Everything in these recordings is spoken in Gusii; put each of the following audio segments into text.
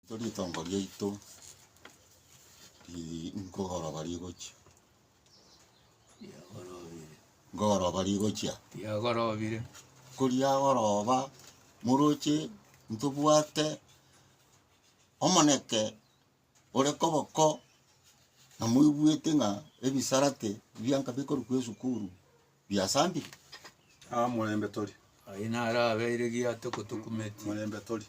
Ritongo riaito nkogoroba rigochia, nkogoroba rigochia, ko riagoroba moroche ntobwate omoneke ore koboko na moigwete ng'a ebisarate bianka bikorokwa esukuru. Biasambi? Aa, morembe tori. Aye naro abeire giato gotokumetie. Morembe tori.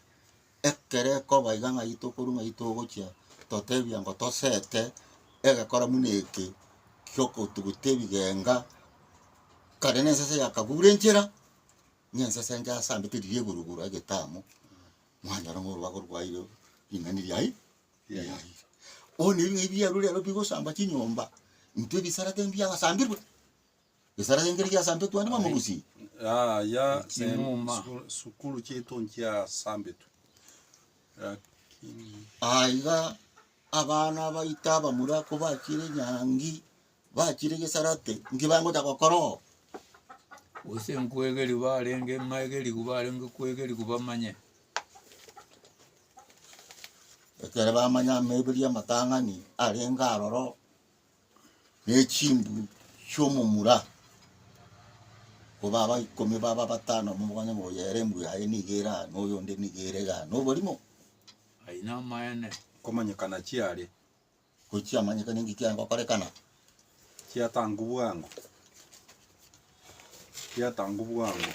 Ekero ekoba iga ng'ai tokorwa ng'ai togochia totebia ngo tosete egekora muna eke giokotuguta ebigenga kare nensese yakagura enchera ng'a ensese enche asambete riria igoro igoro egetamo mwanyora ng'a orubago rwaire ring'ani riai riaire. Bono ebi ng'ai biarure rero bigosamba chinyomba intwe ebisarate mbiagasambirwe. Esara yainge riria asambetwe ande bamorusie. Yaya Chimuma. sukuru chiaito nchiasambetwe lakini Aiga abana baito abamura kobachire nyangi bachire gesarate nki bangocha gokora oo? Gose nkoegeria barenge ng'aegeriwe barenge koegeriwa bamanye. Ekero bamanya amaiberio y'amatang'ani arenge aroro. ne chimbu chi'omomura, koba aba ikomi baba batano nigo bakonyora ng'a oyo ere mbuya aye nigo ere aa, na oyonde nigo ere igaa, na oborimo. Ayio namaene. Okomanyekana chiare. Gochia amanyekana engaki aye ngokorekana. Chiatangwa bwango. Chiatangwa bwango.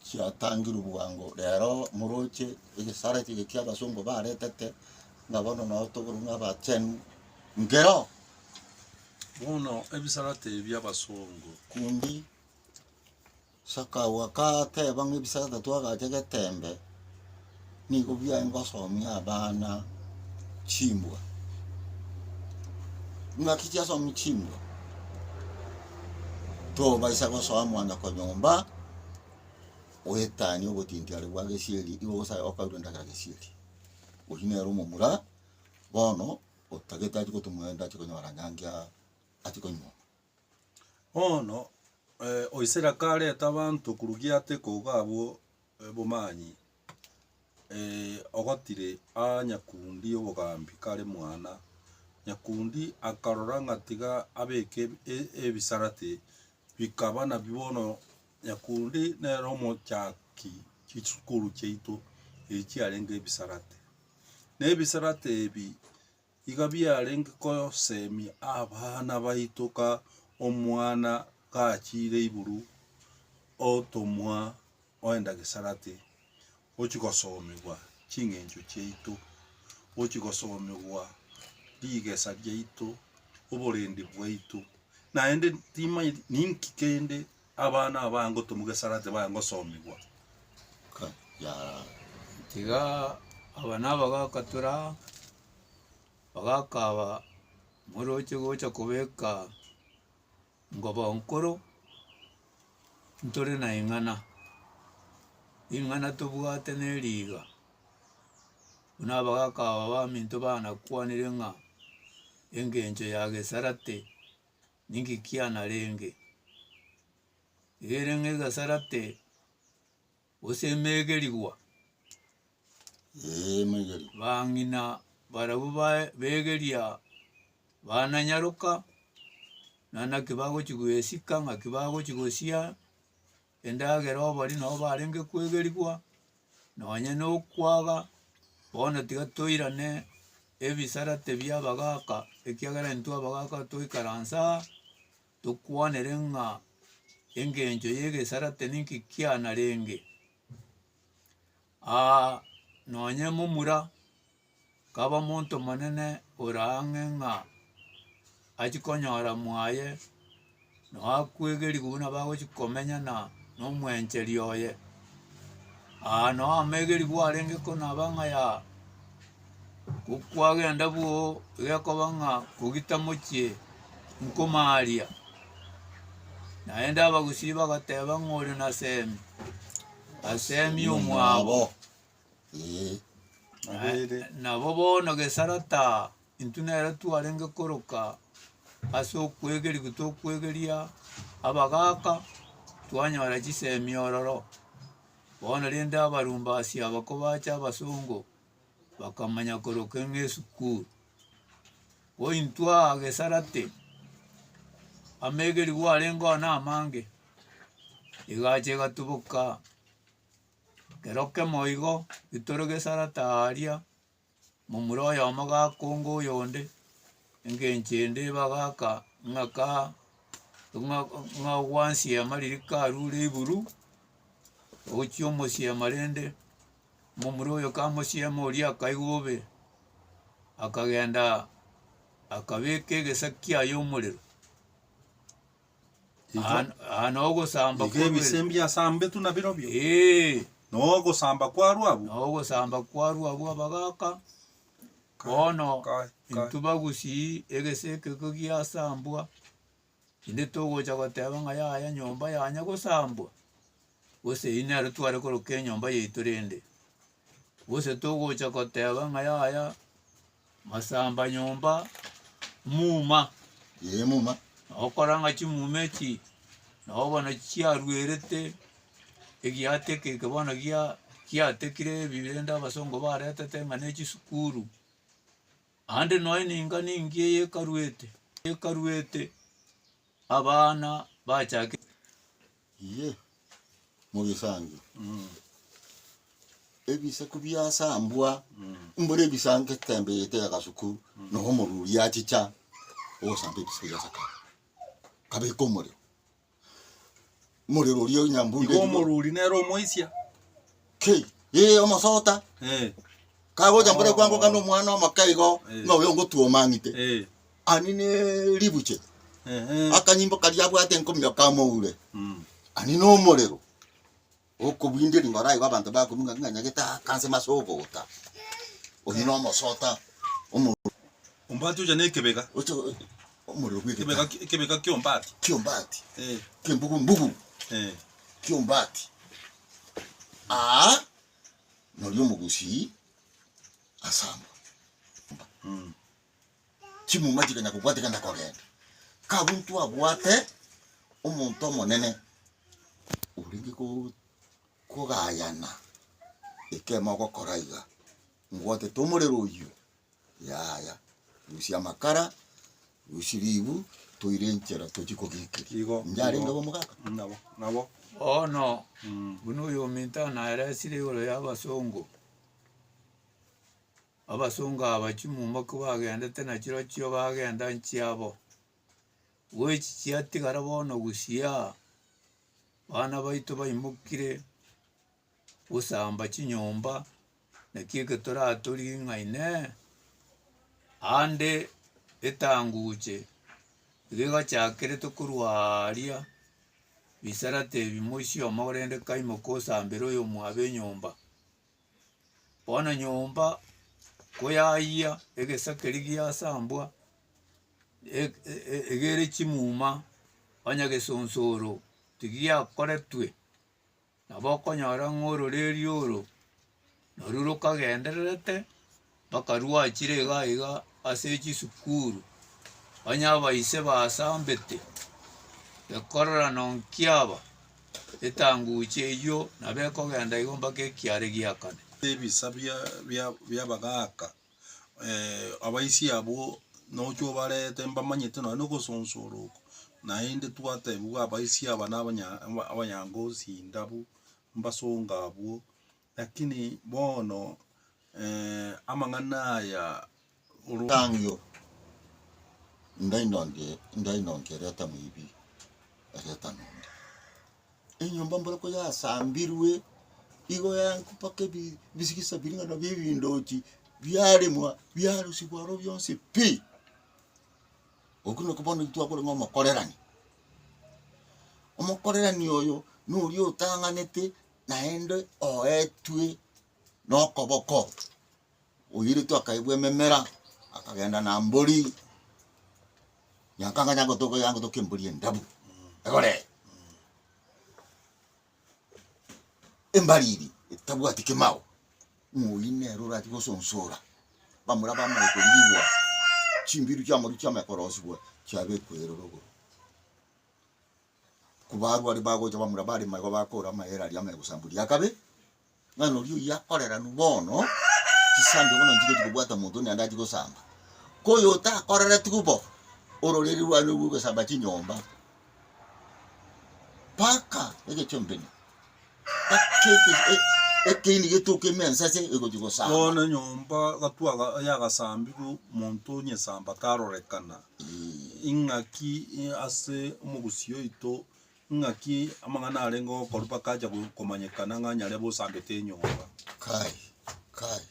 Chiatangirwe bwango rero moroche egesare ekio kia abasongo baretete ng'a bono nao tokorwa ng'a abachenu nkero. Bono ebisarate ebi abasongo. Kundi Sakao akateba ng'a ebisarate twagache getembe. Nigo bia ngosomia abana chimbwa. Ng'aki chiasomia chimbwa, tobaisa gosoa mwana konyomba, oetanie obotinti are bwa gesieri, igo bosa okaurure endagera gesieri. Oyio nere omomura bono otagete achi gotumwa ende achi konyora nyangi aa achi konyuoma. Bono Oisiraeli kareta abanto korwa giato ikogo abwo Obomanyi, ogotire aa Nyakundi obogambi kare mwana. Nyakundi akarora ng'a tiga abeke ebisarate, bikaba nabi bono Nyakundi nere omochaki chisukuru chiaito echi chiarenge ebisarate. Nebisarate ebi Iga biarenge kosemia abana baito ka omwana gachiire iguru otomwa oenda Gesarate, ochia gosomigwa ching'encho chiaito, ochia gosomigwa rigesa riaito, oborendi bwaito, naende timanyeti ninki kende Abana aba ngotumwa gesara tibaya ngosomigwa. Ka ya tiga aba naba gakatura bagakaba moroche gocha kobeka ngobo nkoro ntore na ing'ana ing'ana tobwate neriga buna abagakaba baminto bana kwanire ng'a engencho ya gesarate. ninki kianarenge igereng'e egasarate gose emegerigwa bang'ina barabwo begeria bananyaroka naende naki bagochi goesika naki bagochi gosia. Endagera obori nabo barenge kwegerigwa, nonye nokwaga, bono tiga toirane ebisarate bia abagaka, ekiagera intwe abagaka toikaransa aa, tokwanere ng'a engencho y'egesarate ninki kianarenge. Aa nonye momura. Kaba montomonene ore ang'e ng'a achie konyora mwaye nao akwegeriwe buna bagochia komenya na nomwencheri oye aa nao amegerigwe arenge ko naba ng'a ya ko kwagenda bwoo gekoba ng'a kogita mochie nkomaria naende abagusii bagateba ng'a ore nasemi asemi omwabo. Ee. Nabeire. Nabo bono gesara taa intwe nere twarenge koroka ase okwegerigwa tokwegeria abagaka twanyora chisemi ororo bono rende abarumbasi aba kobacha abasongo bakamanya koroka ng'a esukuru ko intwe aa gesara tii amegerigwa arenge oo namange egacha egatuboka. Ekero kemo igo etoro gesarate aaria, momura oyomo gakonga oyonde, engencho ende ebagaka ng'a ka ng'a ng'a ogwansiema riria karure iguru, ogochia omosiema rende, momura oyo kamosiema oria akaigwa obe, akagenda akabeka egesa kiaye omorero. Aa- aa nogosamba Iga kw'obere- ebisembia asambetu na birobio, Ee, na ogosamba kwarwo abwo. na ogosamba kwarwo abwo abagaka bono Kai, kai. intwe bagusii egese ekeko giasambwa inde togocha goteba ng'a yaya nyomba yanya gosambwa gose eyio nero tware koroka enyomba yaito rende gose togocha goteba ng'a yaya. Masamba nyomba muma. Ee muma. Nokora ng'a chimuma echi nabo bono chiaruerete egiateka eke bono gia giatekire ebi rende abasongo baretete ng'a ne chisukuru. Ande nonya ne ingani engiya ekaruete ekaruete. Abana bachake Inye mogesange ebisaku biasambwa mbore ebisango etembe ete y'agasuku nonya omorwori achicha ogosamba ebisaku bia sakara kabeka omorero. Omorero oria o nyambunde Igo igoro. omoruri nere omoisia. Ki? Ee, omosota. Eh, Kagocha mbore kwango kana omwana omoke igo, Eh. ng'a oyo ngotuoma ang'ite. eh, Ani ne ribuche. ehe. Akanyimbo karia abwate enkomio kamoure. Mm. Ani na omorero. Okobwindia ring'o oraigo abanto bakonunga ng'a nyagete akanse mase ogota. Oyio na omosota. Omo- Ombwate ocha na ekebega. ocha- Omorero bw'egetano. Ekebeka ki'ombati. Ki'ombati. Eh. Ki'embugu mbugu. Eh. Ki'ombati. Aa norio omogusii asamba. Mm. Chimuma chikanya kobwatika na kogenda. Kabuntu abwate omonto omonene orenge kogayana ekemo ogokora iga, mbwatete omorero oyio. Yaya, rusia amakara, rusia ribu, toire enchera tochie kogekeria. Igo, Inche arenge igo, omogaka. mm, nabo, nabo, Bono mm, buna oyo ominto naeresire igoro y'abasongo, abasongo aba chimumboki bagendete na chirochio bagenda nchiabo, igo echi chiatigara bono gusii aa, bana baito baimokire gosamba chinyomba, naki egetora toring'a inee, ande etanguche iga egachakerete korwa aaria bisarate ebi moisioma korende kaimoka osambere oyomwabo enyomba. Bono nyomba koyayia egesa keria giasambwa iga ere chimuma onye gesonsoro tigiakoretwe. Nabo okonyora ng'a ororeria oro narwo rokagendererete mpaka rwachire iga iga ase chisukuru, onye abaise basambete ekororano nkiaba etanguche eywo nabo ekogenda igo mpaka ekiare giakane. Ebisa bia- bia- bi'abagaaka abaisia abwo nocha obarete mbamanyete nonya nogosonsora oko, naende twatebiwa abaisia aba na abanyangozi ndabu mbasonga abwo, lakini bono amang'ana aya orotang'io ndainonkerete moibi egetanonde. Enyomba mboroko yasambirwe, igo yaengwa mpaka ebi- bisigisa biria ng'a nabio ebindochi biaremwa, biarusigwa aro bionsi pi. Okwo nokwo bono twakorwa ng'a omokorerani. Omokorerani oyo noria otang'anete naende oetwe nokoboko, Oirito akaigwa ememera, akagenda na mbori, Nyankanga yangotoka yangotoka embori endabu, egore embariri etabwati kemao, ng'a oyio nere orachie gosonsora bamura bamanye korigwa, chimbiru chiamoria chiamanye korosigwa chiabekwa eroro igoro. Ko barware bagocha bamura barema igo bakora amaere aria amaya gosamboria akabe. Mwana oria oyio akoreranu bono chisambio buna nchigochi kobwata omonto onde naende ache gosamba. Koyo otakoreretigwe bo, ororeri rwane rwo gosamba chinyomba mpaka egechombeni, mpaka eke- e- ekeini getoke ime ensase egochi gosamba. Bono nyomba gatwaga yagasambirwe omonto onyesamba tarorekana, Ee. ing'aki ase omogusii oito Ng'aki amang'ana arenge okoru bakacha komanyekana ng'a nyarebe osambete enyomba. Kai, kai,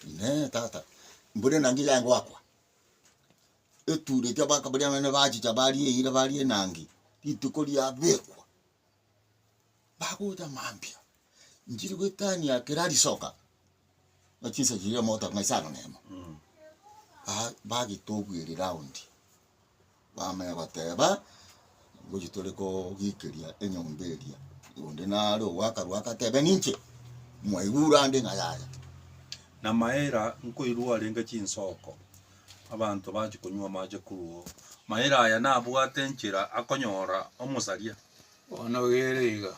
Inee, tata, mbure enangi yaye ngoakwa? Etuura eria baka baria abana bachicha baria eira baria enangi, rituko riabekwa, bagocha mambia, nchiri goetania kera risoka. na chinsa chiria mogotoka ng'a isano na emo, ba- bagete obweeri round, bamanya goteba, ngochi tore kogiikeria enyomba eria, onde nare ogo akarwa agateba ninche, mwaigure ande ng'a yaya. Na Maira nkoirwa arenge chinsoko, abanto bachia konywa amache korwa oo. Maira aya nabwate enchera akonyora omosaria. Bono gere iga.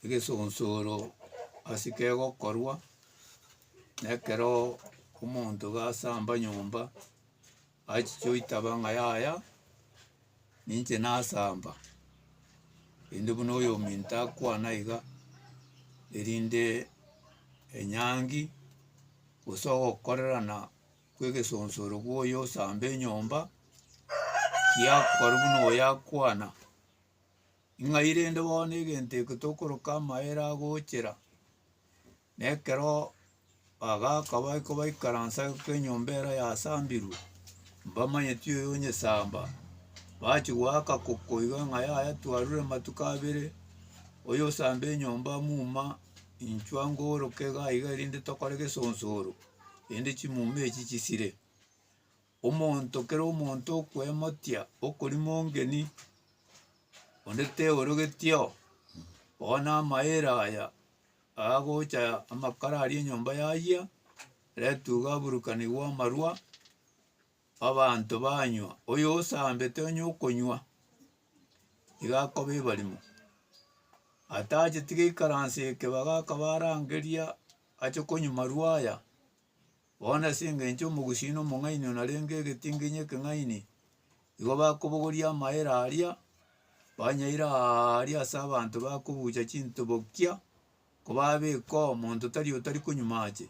egesonsoro ase kegokorwa, na ekero omonto iga asamba nyomba, achiche oitaba ng'a yaya, ninche nasamba, rende buna oyominto akwana iga, erinde enyangi gose ogokorerana kw'egesonsoro bwa oyo osamba enyomba, giakorwa buna oyo akwana, Ing'ai rende bono egento eke tokoroka amaere agochera, na ekero bagaka baika baikaransa goika enyomba ero yasambirwe, mbamanyeti oyo onyesamba, bachi goaka koko iga ng'a yaya twarure amatuko abere, oyo osamba enyomba muma, inchwa ngooroke iga iga erinde tokore gesonsoro, erinde chimuma echi chisire. Omonto kera omonto okwemotia okori mongeni, onde teorogetio, bono amaere aya agocha amakara aria enyomba yayia, ere etuga aburukanigwe amarwa, abanto banywa, oyo osambete onye okonywa, iga akoba ebarimo. Atacheti gaikaranse ekebaga akaba arangeria ache konywa marwa aya. Bono ase engencho y'omogusii omong'aini onarenge egetinginyi ekeng'aini, igo bakobogoria amaera aria, banyaire aaria ase abanto bakobucha chintobokia, kobabeka omonto tari otari konywa amache,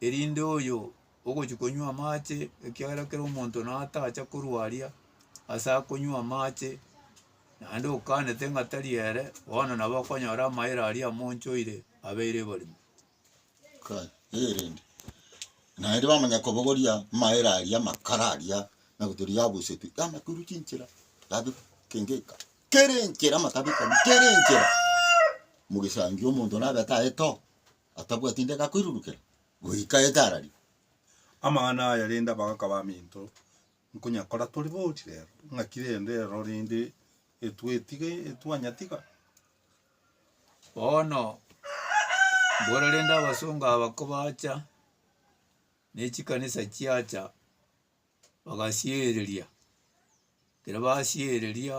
erinde oyo ogochia konywa amache, ekiagera kera omonto natacha korwa aria ase akonywa amache, naende okanete ng'a tari ere, bono nabo okonyora amaera aria amonchoire abeire barimo. erinde naende bamanya kobogoria amaere aria amakara aria naboturia yabusetwe yamakuru chinchera yabe kengeka kera enchera amatabi kori kera enchera mogesangi omonto nabete aye to atabwati ndege akoirurukera goika aete arari. Amang'ana aya rende abagaka baminto nkonyakora tori bori rero ng'aki rende ero rende etwetiga etwanyatiga. Bono mbora rende abasongo aba kobacha ne chikanisa chiacha bagasiereria, ekero basiereria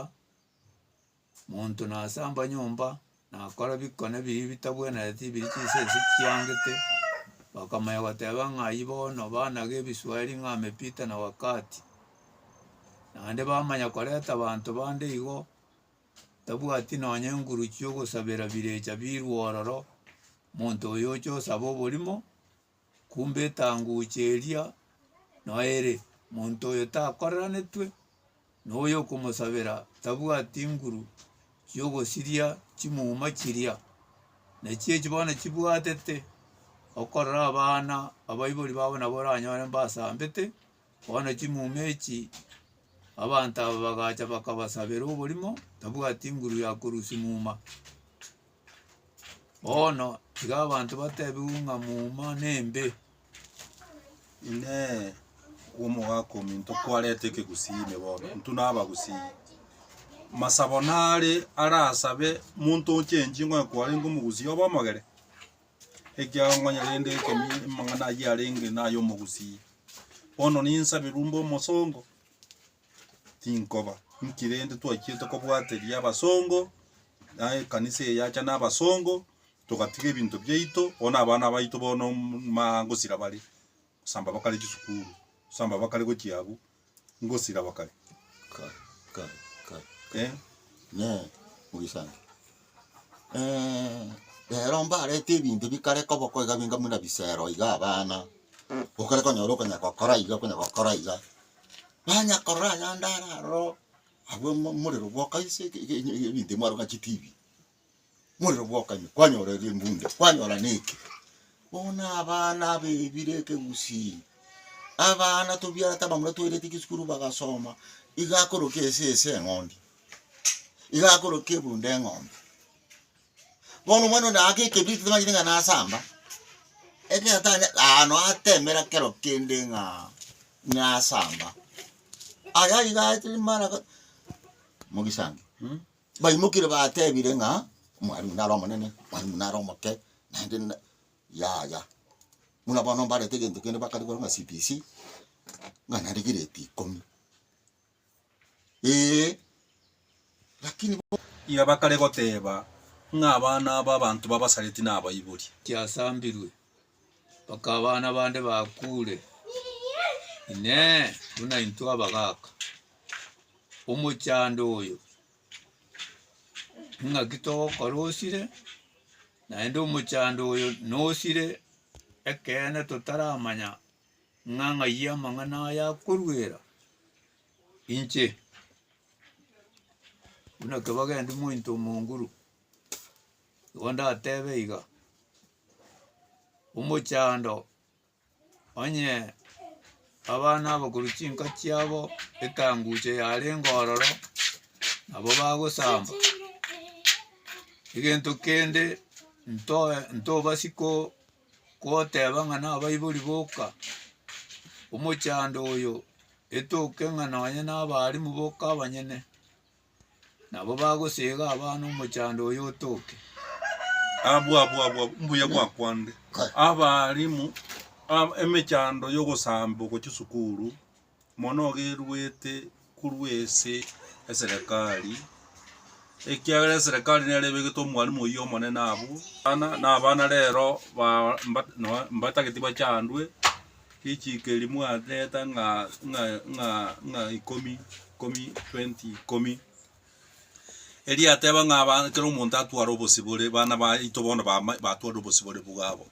monto nasamba nyomba nakora bikone bibi bitabwenereti biri chinsa echi chiangete, bakamanya goteba ng'a aywo bono banaga ebisweri ng'a amepita na wakati. Naende bamanya koreta abanto bande igo tabwati nonya enguru chi'ogosabera birecha birwe ororo, monto oyo oche osabe oborimo, kumbe etanguche eria noere, monto oyo takoreranetwe noyo okomosabera tabwati nguru chi'ogosiria chimuma chiria. Nachi echi bono chibwatete okorora abana abaibori babo nabo oranyore mbasambete. Bono chimuma echi abanto aba bagacha bakabasabera oborimo, tabwati nguru ya korusia muma. Bono tiga abanto batebigwe ng'a muma nembe. Inee! Omogaka ominto kwareta ekegusii ime bono? Intwe nabagusii. Masabo nare arasabe monto ochenchie ng'o ekwarenge omogusii obe omogere? Ekiagong'onya rende ekemi amang'ana ayio arenge nay'omogusii. Bono ninsabe rumbe omosongo, tinkoba. Inki rende twachiete kobwateria abasongo, na ekanisa eye yacha na abasongo, togatiga ebinto biaito, bono abana baito bono mma gosira bare. Osamba bakare chisukuru. Osamba bakare gochia abwo. Ngosira bakare. Kai, kai, kai, kai. Eh. Ne, moisani. Eh, rero mbarete ebinto bikare koba oko iga binga buna bisero iga abana. Okare konyora okonya gokora iga okonya gokora iga. Banya korora ayande araroo, abwo omorero bwoka ase ebinto bimwaro ng'a chitibi. morero bwokanywa, kwanyora ere embunda, kwanyora neke. Bono abana abebire ekegusii, abana tobiarete abamura toirete chisukuru bagasoma, iga akoroka ese ese eng'ondi, iga akoroka ebunda eng'ombe. Bono omwana one aake ekebiriti tamanyeti ng'a nasamba, ekero atanya aano atemera kero kende ng'a nasamba, aya iga aetire mara ga mogisangio. Baimokirie batebire ng'a, Omwalimu nare omonene, Omwalimu nare omoke, naende na, yaya. Buna bono mbarete egento kende bakarigoro ng'a CBC, ng'a naende grade ikomi, ee, lakini bono. Erio bakare goteba ng'a abana aba abanto babasareti nabaibori. Kiasambirwe. mpaka abana bande bakure, Inee! Buna intwe abagaaka, omochando oyo ing'aki togokora osire, naende omochando oyo nosire, ekeene totaramanya ng'a ng'ai amang'ana aya akoruera inche. Buna ekero bagendetie omonto omonguru, igo ndatebe iga. omochando onye abana abakorwa chinka chiabo ekanguche yarenge ororo nabo bagosamba egento kende ntoe ntobasi ko koteba ng'a nabaibori boka omochando oyo etoke ng'a nonye nabaarimwa boka abanyene. Nabo bagosega abana omochando oyo otoke. Abwo abwo abwo abwo, mbuya gwakwanire abalimu ab- emechando yogosamba ogochia esukuru mono ogeruete korwa ase eserekari ekiagera eserekari nere ebegete omwalimu oyio omonene abwo, abana na abana rero ba- mba- noe- mbatagete bachandwe. Richiiko eri mwateeta ng'a ng'a ng'a ng'a ikomi ikomi twenty ikomi, erio yateba ng'a aba kera omonto atware obosibore bana baito bono bama batware obosibore bwabo.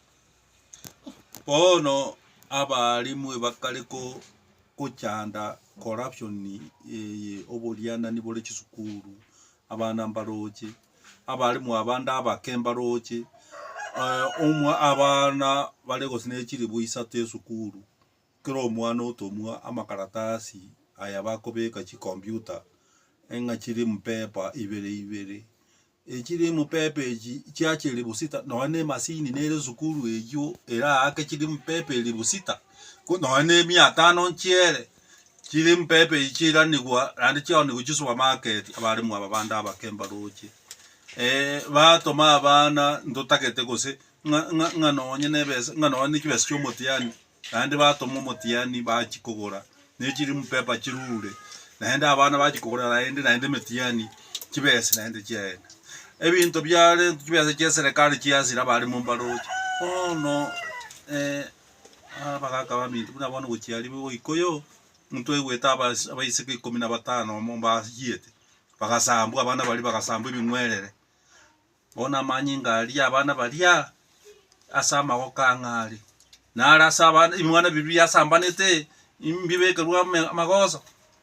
Bono abaalimu ebakare ko kochanda corruption eye oborianani bore chisukuru, abana mbaroche. abaalimu abande abake mbarooche, omwa abana bare gose ne chilibu isato esukuru, kera omwana otomwa amakaratasi aya bakobeka chicomputer ng'a chiri mupepa ibere ibere. Echiri mupepa echi chia chilibu sita nonya ne emasini nere esukuru eywo eraake chiri mupepa elibu sita, ko nonya ne mia tano nchiere. Chimpepo echi chiranigwa naende chiaonigwa chisupamaketi abaremwa aba bande abake mbaroche batoma abana ntotagete gose ng'a ng'a ng'a nonye na ebesa ng'a nonye na chibesa chia omotiani naende batoma omotiani bachia kogora ne chirimpepwa chirure naende abana bachia kogora naende naende emetiani chibesa naende chiaenda. Ebinto biarenge chibesa chia eserekari chiasira abaremwa mbaroche bono. Aa bagaka baminto buna bono gochia aria goika yo, omonto aigwete abas- abaiseke ikomi na batano amo mbachiete, bagasambwa abana baria bagasambwa ebing'werere. Bono amanyinga aria abana baria ase amagoko ang'a are, naro ase abana ebimwana biria biasambanete, mbibekerwe ame- amagoso.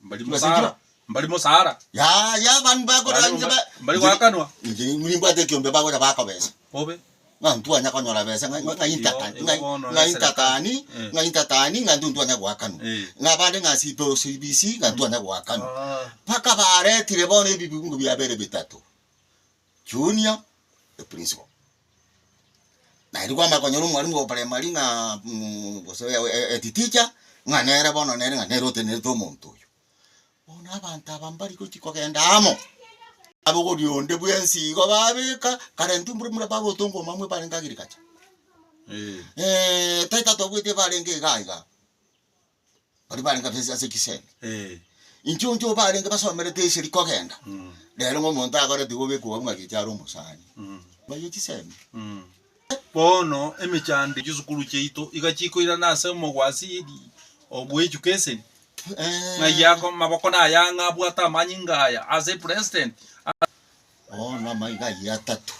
Mbari Mbasechwa. mosara. Mbari mosara. Yaya abande bakora Bari inche mba- ba- mbari goakanwa. Inche nimbwate ekiombe bagocha baka besa. Bobe. Ng'a ntwanya konyora besa ng'a- ng'a- ng'ainta Iyo- tani- iyo ng'a- bono ng'ainta esere ta- tani, Eh. ng'ainta tani ng'a ntwe ntwanya goakanwa. Eh. Ng'a abande ng'a sipe osibisi ng'a ntwanya goakanwa. Ah. Mpaka baretire bono ebibungo biabere bitato. Junior e principal naende kwamanya konyora omwalimu o primary ng'a gose head teacher ng'a nere bono nere ng'a nere otenerete omonto oyo. Bono abanto aba mbari gochia kogenda amo, abogori onde bwensi igo babeka kare intwe mbura muna baba otongoma mwa ebarenge agriculture tari tatwabwetie ebarenge iga iga. baria barenge ase ase chisemi. Inche omonto obarenge basomerete eseri kogenda, rero ng'a omonto agore tiga obekwa obwo ng'a gecha are omosani. Baye chisemi. Bono emechando chisukuru chiaito iga chikoirana ase omogwasiri oo bwechuka eseri, ng'ai ako maboko na aya ang'a abwate amanyinga aya ase president. Bono amaiga ayio atato,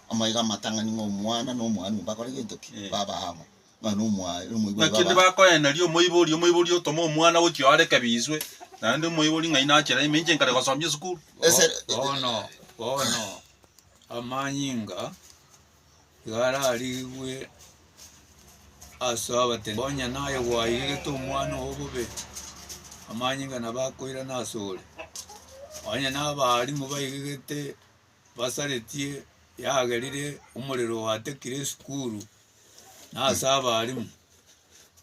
amaiga amatang'ani ng'a omwana na omwami mbakore gento ki? Baba amo. Naki tibakoeneria omoibori, omoibori otoma omwana gochia oare kebiiswe, naende omoibori ng'ai nachera ime inche nkare gosomia esukuru? Bono, bono, amanyinga iga ararigwe as'abatebia, onye naye gwaigete omwana oo bobe, amanyinga nabo akoirana asore, onye nabaarimwa baigigete. basaretie yagerire omorero oatekire esukuru na ase abarimu,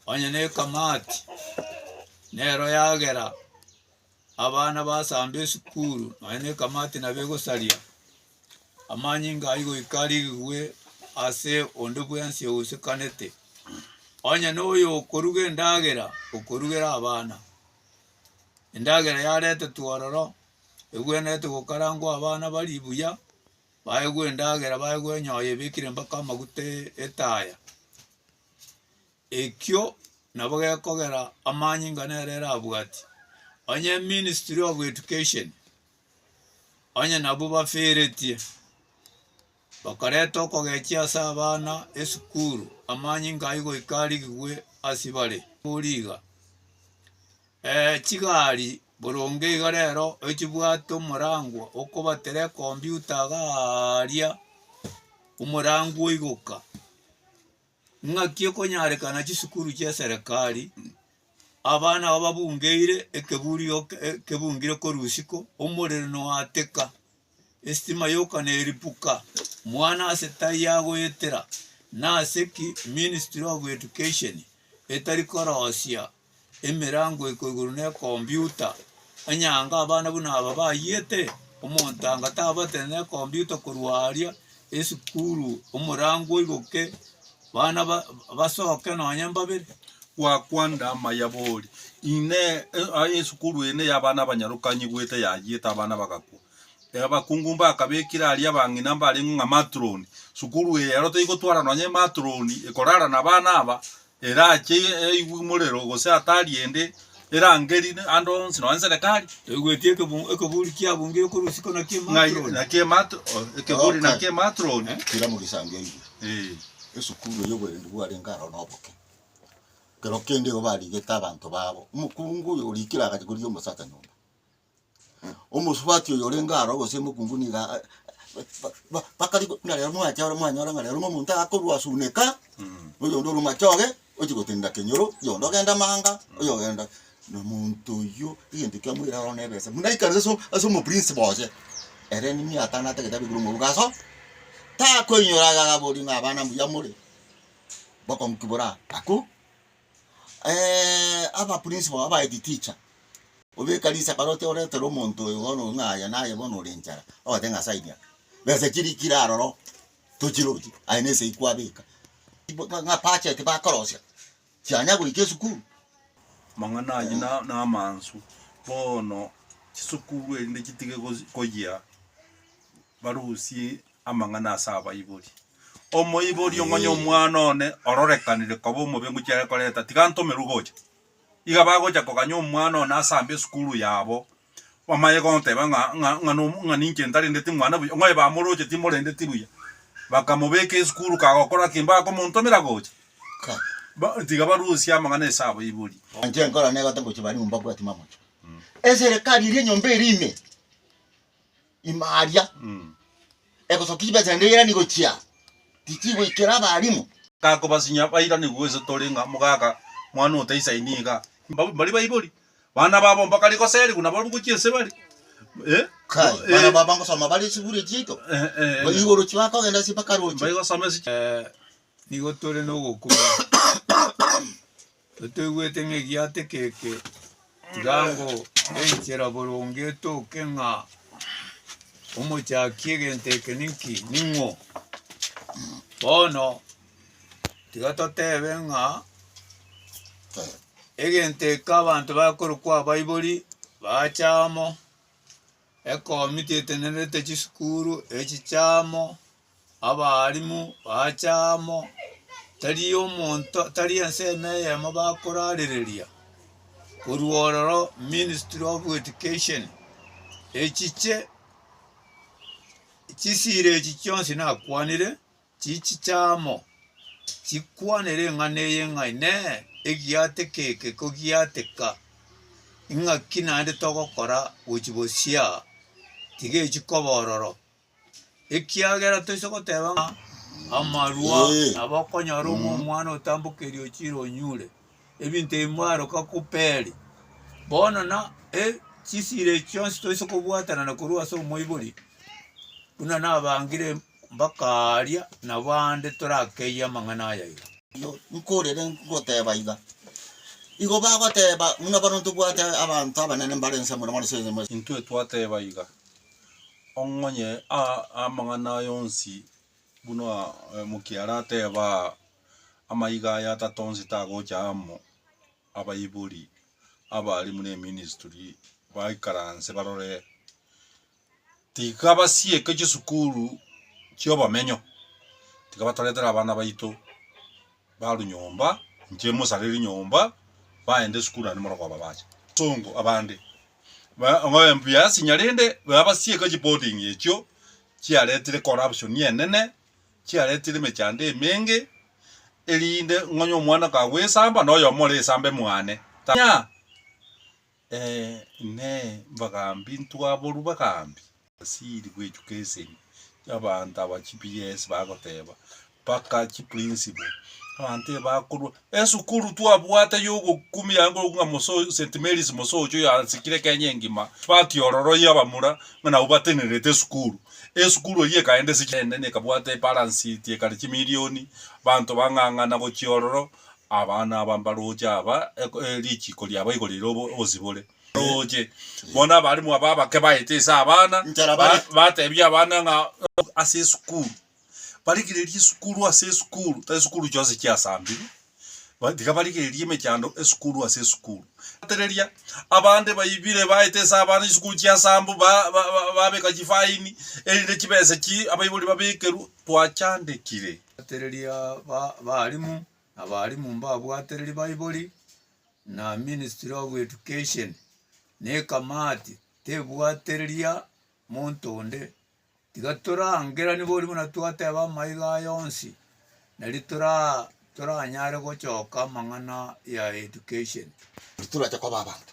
onye na ekamati nero yagera abana basamba esukuru nonye na ekamati nabo egosaria amanyinga ayio goika arigigwe ase onde bwensi ousekanete. Onye na oyo okoruga endagera okorugera abana, endagera yaretetwe ororo. egwenerete gokarangwa abana barie buya, baegwe endagera, baegwe enyoyo ebekire mpaka amaguta etaya, ekio nabo gekogera amanyinga nere erabwati, onye ministry of education onye nabwo baferetie, bakareta okogechia ase abana esukuru amanyinga ayio goika arigigwe ase bare, origa chigari. Boronge iga rero ochibwate omorangwa okobatera ekombiuta iga aaria omorangwa oigoka. Ng'aki ekonyarekana chisukuru chia eserekari abana aba babungeire ekeburi oke ekebungire korwa usiku omorero noateka estima yoka neripuka mwana ase tai agoetera nase ki ministry of education etari korosia. emerango iko igoro ne computer, onye anga abana buna aba bayiete, omonto anga tabatete ne computer korwa aria esukuru omorango oigoke bana ba basoke nonye mbabere. Gwakwanda amaya bori, inee aye esukuru eye ne ya abana abanyarokanyi goeta yayiete abana bagakwa, Abakungu mbakabekire aria abang'ina mbareng'o ng'a matroni. Sukuru eye ero teigotwara nonya ematroni ekorara nabana aba, erache eigwe morero gose hatari ende erangeri ande onsi nonya serekari. Egwetie ekeburi kiabungi yokorusia ko naki ematroni. Naki ematro ekeburi naki ematroni. Kira mogisango eigwe. Ee. Esukuru eye oborendi bwarenge aro noboke. Kero kende igo barigete abanto babo. Omokungu oyo orikire agachia korigia omosacha nyomba. omosubati oyo orenge aro gose omokungu niga a- a- ba- ba- bakari go buna rero mwacha aro mwanyora ng'a rero ng'a omonto akorwa asuneka, oyonde orwa machoge, ochia gotenena kenyoro, oyonde ogenda manga, oyogenda na omonto oyio egento ekia moira aro na ebesa buna aikare ase ase omoprinsi boye, ere niye atanate egetabu ekero omoboko aso, takoinyora iga agabori ng'a abana mbuya more, bokonki boraa akwo. abapurinsi bao abahead teacher, obeka risa baroche oretere omonto oyo bono oyo ng'a aye naye bono ore enchara, ogoteba ng'a nyasae niaka, besa chiri kire aroro tochiroche aye na esegi kwabeka ng'a budget bakorosia chianya goika esukuru. Amang'ana ayio na namansu bono chisukuru erinde chitige gosi koyia. barusie amang'ana ase abaibori. Omoibori ong'onye omwana one ororekanire koba omobe ng'o chiare koreta, tiga antomerwe gocha. Iga bagocha koganya omwana one ase ambia esukuru yabo, bamaye goteba ng'a ng'a ng'a nomo ng'a ninche ntarendeti mwana buya, ng'oye bamoroche timorendeti buya. Bakamobeka esukuru kagokora ki? Mbakomontomera gocha? Ka. Ba tiga barusie amang'ana ase abaibori. Inche nkora negata gochia barimu mbabwati mamocho. Eserekari eria enyomba eria ime. ime aria, egosoka chibesa naende eirani gochia, tichigoikera abaalimu. Gakobasinyia bairanigwe gose tore ng'a mogaka mwana otaisaini iga. Mbabo mbari baibori, bana babo mbakare goserigwa nabo abwo gochia ense bare. Eh. Kai, Eh. bana baba ngosoma bare esukuru eye chiaito, Eh, eh, eh. igo orochio bakogenda ase mpaka rochio. Mbaigosoma ase chi- Eh, nigo tore nogokumia. Totoigwete ng'a egiato ekeke, tiga ngo enchera boronge etoke ng'a omochaki egento eke ninki, ning'o. Bono tiga totebe ng'a egento eke abanto bakorokwa abaibori bacha amo. Ekomiti etenenerete chisukuru echi chiamo, abaalimu baacha amo, tari omonto tari ensemo eyemo bakorarereria korwa ororo ministry of education echiche chisira echi chionsi nakwanire. Chichichamo chikwanere eng'ana eye ng'a Inee! Egiateka eke kogiateka? Ing'aki naende togokora gochia bosio aa? Tigechi koba ororo, ekiagera toise goteba ng'a amarua nabo okonyora ong'e omwana otambokeire ochire onyure, ebinto ebi mbaroka koperi. Bono na chisira echi chionsi toise kobwatanana korwa ase omoibori buna nabangire Bakaaria, Nabo aande torakeyie amang'ana aya iga. Igo nkorire ngoteeba iga, Igo bagoteeba, buna bono ntobwate abanto abanene mbare inse muna bono sense muna. Intwe twateeba iga, Ong'onye amang'ana aya onsi, buna omokia arateeba aa, amaiga aya atato onsi tagocha amo, abaibori abaarimu neministry baikaranse barore. Tikabasieke chisukuru chi'obomenyo, tikabatoretera abana baito barwe nyomba, inche mosareri nyomba, baende esukuru naende morokoo babache. Songo abande ng'oe mbuya asinya rende babasieke chiboarding echio chiaretire corruption enene, chiaretire emechando emenge, erinde ng'onye omwana kagoesamba, noyomo ore esamba emwane. Tanya. Ee, inee, mbagambi ntwaborwa bagambi? Basiri gwechuka esegi, abanto aba chiPS bagoteba, Mpaka chiprinciple. Abanto ebe bakorwa, Esukuru twabwate yogokumia ango ng'a Moso, St. Mary's Mosocho oyoasikire Kenya engima, batiororoiye abamura ng'a nabwo batenerete esukuru. Esukuru eyio ekaenda ase chineene, ekabwata ebalansi eti ekare chimilioni. Abanto bang'ang'ana gochia ororo, Abana aba mbarooche aba, richiiko riabo igoro rire obosibore. Mbarooche, bono abarimu aba abake baete ase abana, bateebie abana ng'a ase esukuru, barigererie esukuru ase esukuru, tari esukuru chionsi chiasambiri, tiga barigererie emechando esukuru ase esukuru. Riatereria, abande baibire baete ase abana chisukuru chiasambu, babeka chifaini, erinde chibesa echi abaibori babekerwe, twachandekire. Abatereria b'abalimu na abalimu mbabwatereri baibori na ministry of education na ekamati tebwatereria monto onde tiga torangeranie boria buna twateba amaiga aya onsi nari toranyare gochoka amang'ana ya education. Titorache koba abanto.